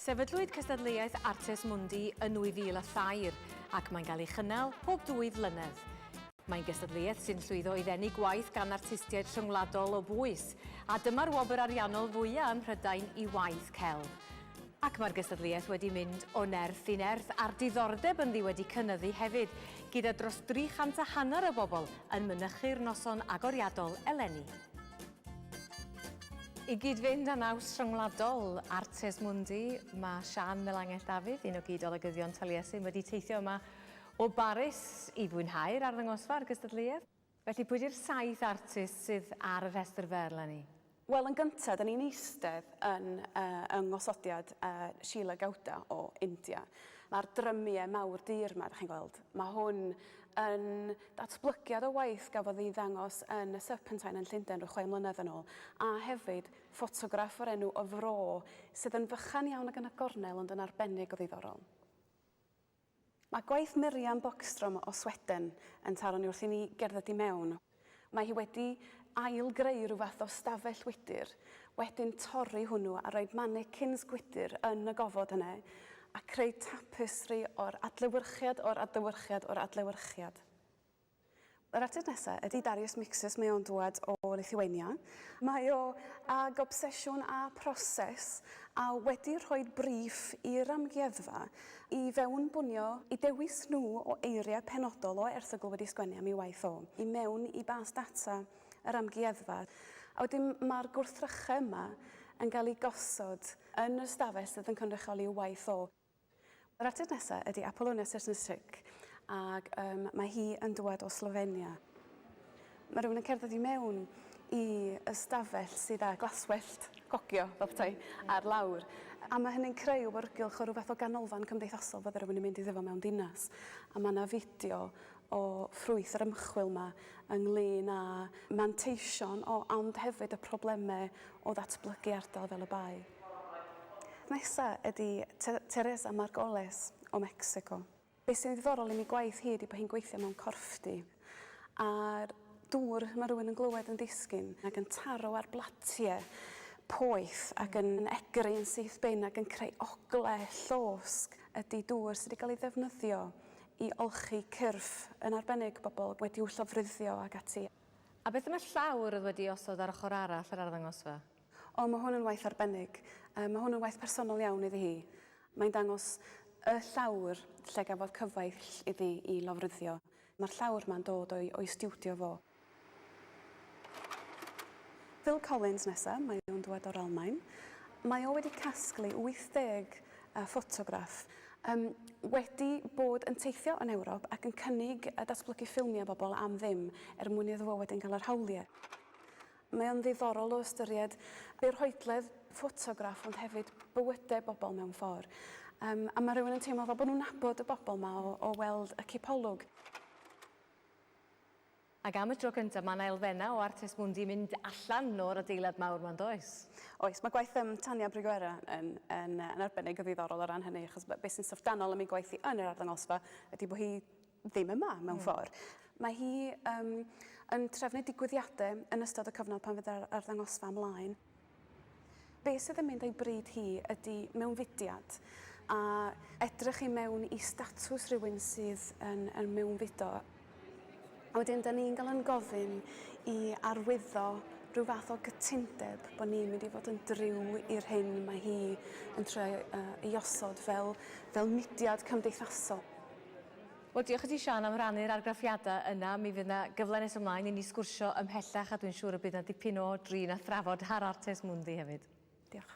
Sefydlwyd cystadleuaeth Artes Mundi yn 2003 ac mae'n cael ei chynnal pob dwy flynedd. Mae'n gystadleuaeth sy'n llwyddo i ddenu gwaith gan artistiaid rhyngwladol o bwys, a dyma'r wobr ariannol fwyaf ym Mhrydain i waith celf. Ac mae'r gystadleuaeth wedi mynd o nerth i nerth a'r diddordeb ynddi wedi cynyddu hefyd, gyda dros 300 a hanner o bobl yn mynychu'r noson agoriadol eleni. I gyd-fynd â naws rhyngwladol Artes Mundi, mae Siân Melangell Dafydd, un o gyd-olygyddion Taliesin, wedi teithio yma o Baris i fwynhau'r arddangosfa a'r gystadleuaeth. Felly, pwy 'di'r saith artist sydd ar y rhestr fer eleni? Wel, yn gyntaf, dan ni'n eistedd yn yng nghosodiad Sheila Gowda o India. Mae'r drymiau mawr du yma, dach chi'n gweld, mae hwn yn Datblygiad o waith gafodd ei ddangos yn y Serpentine yn Llundain ryw chwe mlynedd yn ôl, a hefyd ffotograff o'r enw Y Fro, sydd yn fychan iawn ac yn agornel ond yn arbennig o ddiddorol. Mae gwaith Miriam Bogstrom o Sweden yn taro ni wrth i ni gerdded i mewn. Mae hi wedi ail-greu rhyw fath o stafell wydr, wedyn torri hwnnw a rhoi mannequins gwydr yn y gofod yna, a creu tapestri o'r adlewyrchiad, o'r adlewyrchiad, o'r adlewyrchiad. Yr artist nesa ydi Darius Mixus, mae o'n dŵad o Lithuania. Mae o ag obsesiwn â proses a wedi rhoi briff i'r amgueddfa i fewnbwnio, i dewis nhw o eiriau penodol o erthygl wedi sgwennu am ei waith o, i mewn i bas data yr amgueddfa. A wedyn ma'r gwrthrychau yma yn gael eu gosod yn yr ystafell sydd yn cynrychioli y waith o. Yr artist nesaf ydy Apolonia Srnic ac um, mae hi yn dŵad o Slofenia. Mae rhywun yn cerdded i mewn i ystafell sydd â glaswellt cogio, fel petai, ar lawr. A mae hynny'n creu wrgylch o rhywbeth o ganolfan cymdeithasol fydde rhywun yn mynd iddo fo mewn dinas. A mae yna fideo o ffrwyth yr ymchwil yma ynglŷn â manteision o ond hefyd y problemau o ddatblygu ardal fel y Bae. Nesa ydi Teresa Margoles o Mecsico. Be sy'n ddiddorol yn ei gwaith hi ydi bod hi'n gweithio mewn corffdy a'r dŵr mae rhywun yn glywed yn disgyn ac yn taro ar blatiau poeth ac yn egri yn syth bin ac yn creu oglau llosg ydi dŵr sydd wedi cael ei ddefnyddio i olchi cyrff, yn arbennig bobl wedi'u llofruddio ac ati. A beth am y llawr oedd wedi'i osod ar ochr arall yr arddangosfa? O, mae hwn yn waith arbennig. Mae hwn yn waith personol iawn iddi hi. Mae'n dangos y llawr lle gafodd cyfaill iddi i lofruddio. Mae'r llawr 'ma'n dod o'i stiwdio fo. Phil Collins nesa, mae o'n dwad o'r Almaen. Mae o wedi casglu 80 yy ffotograff. Yym, wedi bod yn teithio yn Ewrop ac yn cynnig a datblygu ffilmia bobl am ddim er mwyn iddo fo wedyn gael yr hawlie. Mae o'n ddiddorol o ystyried be rhoedledd ffotograff ond hefyd bywyde bobl mewn ffor. Yym, a ma rywun yn teimlo fel bo nhw'n nabod y bobl ma o o weld y cipolwg. Ac am y tro cyntaf, mae 'na elfennau o Artes Mundi yn mynd allan o'r adeilad mawr 'ma, yn does? Oes, mae gwaith yym Tania Briguera yn yn yn arbennig o ddiddorol o ran hynny, achos be' sy'n syfrdanol am ei gwaith hi yn yr arddangosfa ydy bo' hi ddim yma, mewn ffor'. Mae hi yym yn trefnu digwyddiade yn ystod y cyfnod pan fydd yr arddangosfa ymlaen. Be sydd yn mynd a'i bryd hi ydi mewnfudiad, a edrych i mewn i statws rhywun sydd yn yn mewnfudo, a wedyn dan ni'n gael yn gofyn i arwyddo rhyw fath o gytundeb bod ni'n mynd i fod yn driw i'r hyn mae hi yn trio ei osod fel fel mudiad cymdeithasol. Wel, diolch i ti, Siân, am rannu'r argraffiadau yna. Mi fydd 'na gyfle nes ymlaen i ni sgwrsio ymhellach a dwi'n siŵr y bydd 'na dipyn o drin a thrafod ar Artes Mundi hefyd. Diolch.